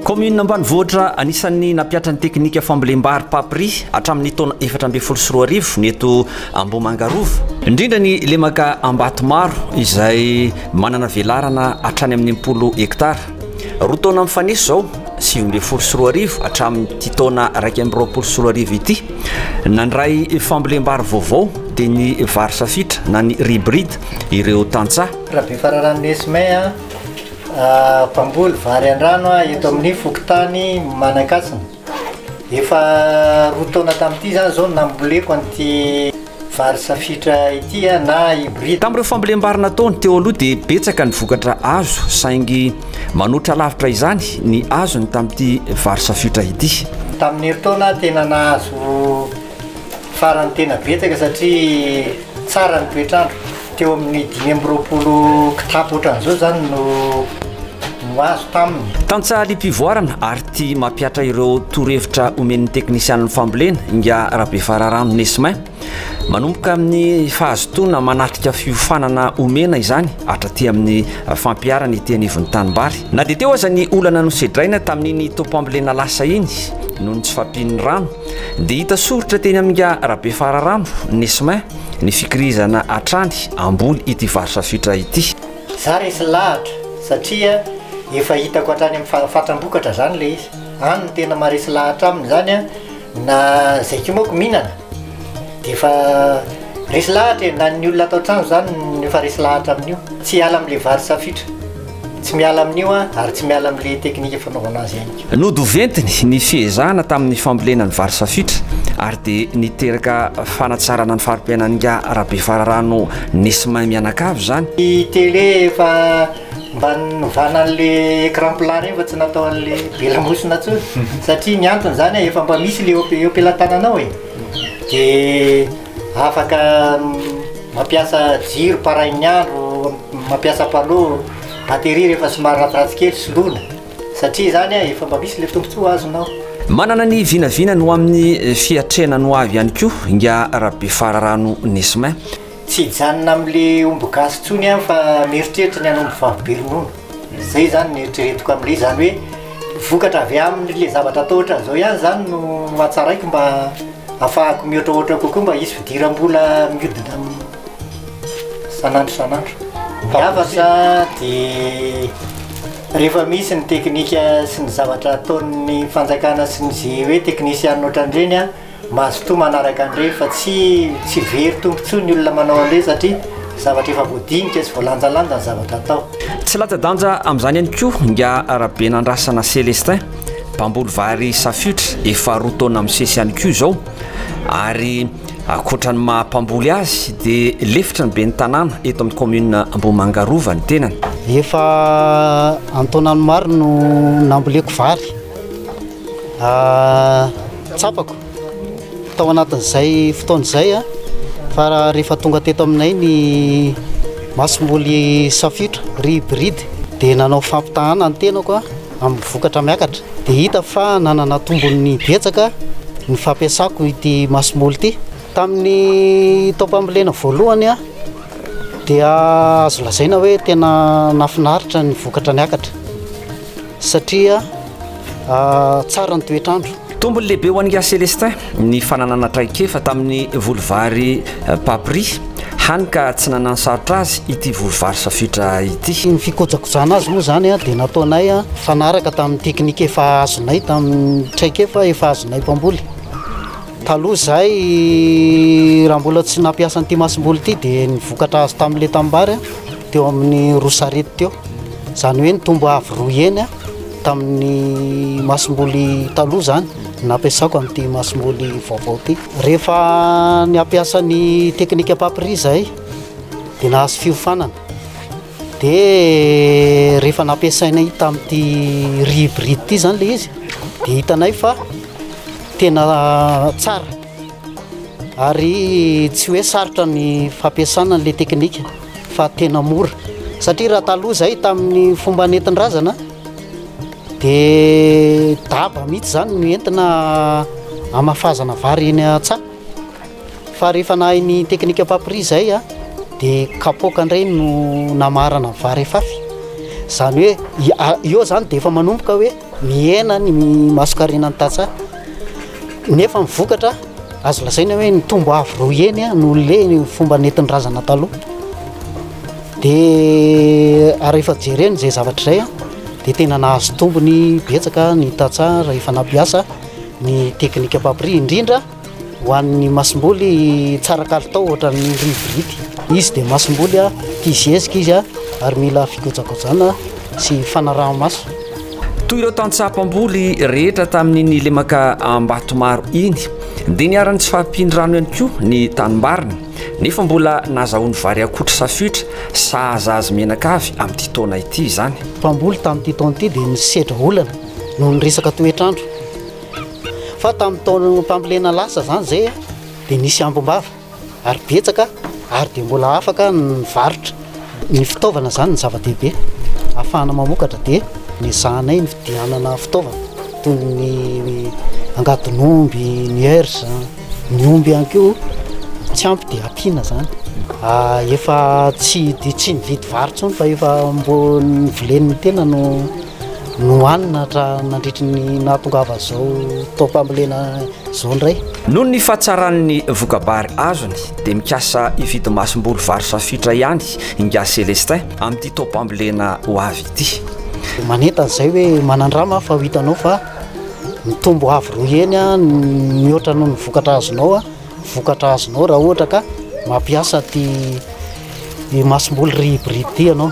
Kaominina ambanivohitra anisan'ny nampihatra ny teknika fambolem-bary papri hatramin'ny taona efatra ambin'ny folo sy roa arivo ny eto Ambohimanga Rova. Indrindra ny lemaka Ambatomaro izay manana velarana hatrany amin'ny impolo hektara. Roa taona mifanesy izao, sivy ambin'ny folo sy roa arivo hatramin'ity taona iraika amby roapolo sy roa arivo ity, nandray fambolem-bary vaovao dia ny vary safitra na ny ribrid ireo tantsaha. Rabefararano Nesme, mpamboly vary an-drano eto amin'ny fokontany Manankasina. Efa roa taona tamin'ity izany izao no namboleko an'ity vary safitra ity na hybride. Tamin'ireo fambolem-bary nataony teo aloha dia betsaka ny vokatra azo saingy manoatra lavitra izany ny azony tamin'ity vary safiotra ity. Tamin'ny herintaona aho tena nahazo. Farany tena betsaka satria tsara ny toetr'andro. Teo amin'ny dimy amby roapolo kitapo ohatran'izao izany no no azo taminy. Tantsaha liam-pivoarana ary tia mampihatra ireo torohevitra omen'ny teknisianin'ny fambolena, Ingahy Rabefararano Nesmin. Manomboka amin'ny fahazotoana manatrika fiofanana omena izany hatraty amin'ny fampiharana ety anivon'ny tanimbary. Na dia teo aza ny olana nosedraina tamin'iny taom-pambolena lasa iny noho ny tsy fampian'ny rano, Dia hita soritra teny amin'inga Rabefararano, Nesmin, ny fikirizana hatrany ambony ity varotra fitra ity. Za resy lahatra satria efa hitako hatrany amin'ny fa fatram-bokatra zany ilay izy. Any no tena maharesy lahatra aminy zany an, na zay ko manko mihinana dia efa resy lahatra e, na ny olona ato an-trano zany no efa resy lahatra amin'io, tsy hiala amin'ilay varotra fitra. Tsy miala amin'io aho ary tsy miala amin'ilay teknika fanaovana azy ihany koa. Nodoventiny ny fiezahana tamin'ny fambolena ny vary safitra ary dia niteraka fanatsarana ny fari-piainan'ingahy Rabefararano nisy mahay mianakavy izany. Ny télé efa mba novana an'ilay écran plat ireny fa tsy natao an'ilay be lamosina intsony satria ny antony izany efa mba misy ilay eo am-pelatananao e. Dia. Afaka mampiasa jiro parain'ny andro, mampiasa panneau, batterie rehefa somary ratsiratsy kely soloina satria izany efa mba misy ilay tombontsoa azonao. Manana ny vinavinany ho amin'ny fiatrehana ny ho avy ihany koa Ingahy Rabefararano Nesmin. Tsy hijanona amin'ilay omby gasy intsony aho fa mieritreritra ny hanombo vavy be ronono. Zay zany ny eritreretiko amin'ilay izy, zany hoe vokatra avy amin'ilay zavatra atao ohatran'izao ihany zany no hatsaraiko mba hahafahako mihoatrahoatra kokoa mba hisy fidiram-bola mihodina amin'ny isan'andro isan'andro. Ny hafatra dia rehefa misy ny teknika sy ny zavatra ataon'ny fanjakana sy ny ze hoe teknisianina ohatran'ireny a, Mazotoa manaraka an'ireny fa tsy tsy very tompo intsony ny olona manao an'ireny satria zavatra efa voadinika, tsy voalanjalanja ny zavatra atao. Tsy latsa-danja amin'izany ihany koa ingahy Rabenandrasana Célestin, mpamboly vary safiotra efa roa taona misesy ihany koa izao ary ankoatra ny maha mpamboly azy dia lefitry ny ben'ny tanàna eto amin'ny kaominina Ambohimanga Rova ny tenany. Efa an-taonany maro no namboleko vary. Tsapako tao anatin'izay fotoana izay fa rehefa tonga teto aminay ny masomboly safiotra ry hybride dia nanao fampitahana ny tenako amin'ny vokatra miakatra dia hita fa nanana tombony betsaka ny fampiasako ity masomboly ity. Tamin'ny taom-pambolena voalohany dia azo lazaina hoe tena nahafinaritra ny vokatra niakatra. satria tsara ny toetr'andro. Tombony lehibe ho an'i Gars Célestin ny fananana traikefa tamin'ny voly vary Papri, hany ka tsy nanan-sarotra azy ity voly vary safoitra ity. Ny fikojakojana azy moa izany dia nataonay mifanaraka tamin'ny teknika efa azonay tamin'ny traikefa efa azonay mpamboly. Taloha izahay raha mbola tsy nampiasa an'ity masomboly ity dia ny vokatra azo tamin'ilay tanimbary dia eo amin'ny roa sarety teo. Izany hoe nitombo avo roa heny tamin'ny masomboly taloha izany no nampiasako amin'ity masomboly vaovao ity. Rehefa niampiasa ny teknika papiria izahay dia nahazo fiofanana. Dia rehefa nampiasainay tamin'ity riz hybride ity izany ilay izy dia hitanay fa tena tsara. Ary tsy hoe sarotra ny fampiasana an'ilay teknika fa tena mora satria raha taloha izay tamin'ny fomba nentin-drazana dia daba mihitsy izany no entina hamafazana vary eny an-tsaha fa rehefa nahay ny teknika papri izay a dia kapoaka indray no namarana vary afafy izany hoe eo izany dia efa manomboka hoe Mihena ny masonkarena ny tantsaha nefa ny vokatra azo lazaina hoe nitombo avo roa heny no le ny fomba nentin'ny razana taloha. Dia ary efa jerena izay zavatra izay a dia tena nahazo tombony betsaka ny tantsaha rehefa nampiasa ny teknikam-pampiriha indrindra. Ho an'ny masomboly tsara kalitao ohatran'ny rivoridy. Izy dia masomboly tia zezika izy ary mila fikojakojana sy fanaraha-maso. Toy ireo tantsaha mpamboly rehetra tamin'iny lemaka Ambatomaro iny dia niharan'ny tsy fahampian'ny rano ihany koa ny tanimbariny nefa mbola nazahoany vary akotra safoitra sahaza azy menaka avy amin'ity taona ity izany. Mpamboly tamin'ity taona ity dia nisedra olana noho ny resaka toetr'andro. Fa tamin'ny taonam-pambolena lasa izany izay dia nisy ambom-bava ary betsaka ary dia mbola afaka ny varotra. Ny fitaovana izany no zava-dehibe ahafahana mamokatra dia noezahanay ny fidianana fitaovana toy ny angadin'omby, ny hers, ny omby ihany koa tsy ampy dia ampiana izany. Efa tsy tsy mividy vary intsony fa efa mbo ny vilen'ny tena no. nohanina hatramin'ny nandritry ny nahatongavan'izao taom-pambolena izao indray. Noho ny fahatsaran'ny voka-bary azony dia mikasa hividy masomboly vary safiotra ihany i Ngahy Celestin amin'ity taom-pambolena ho avy ity. Manentana izay hoe manan-drama aho fa ho hitanao fa mitombo avo roa heny mihoatra noho ny vokatra azonao. vokatra azonao raha ohatra ka mampiasa ity masomboly rihibiriby ity ianao.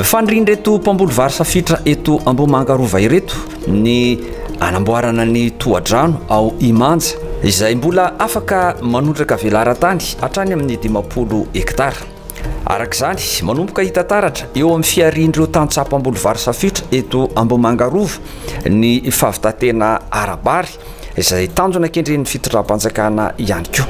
Fanirian'ireto mpamboly vary safitra eto Ambohimanga Rova ireto ny hanamboarana ny tohadrano ao Imanja, izay mbola afaka manondraka velaran-tany hatrany amin'ny dimampolo hektara. Araka izany, manomboka hita taratra eo amin'ny fiharian'ireo tantsaha mpamboly vary safiotra eto Ambohimanga Rova ny fahavitantena ara-bary, izay tanjona kendren'ny fitondram-panjakana ihany koa.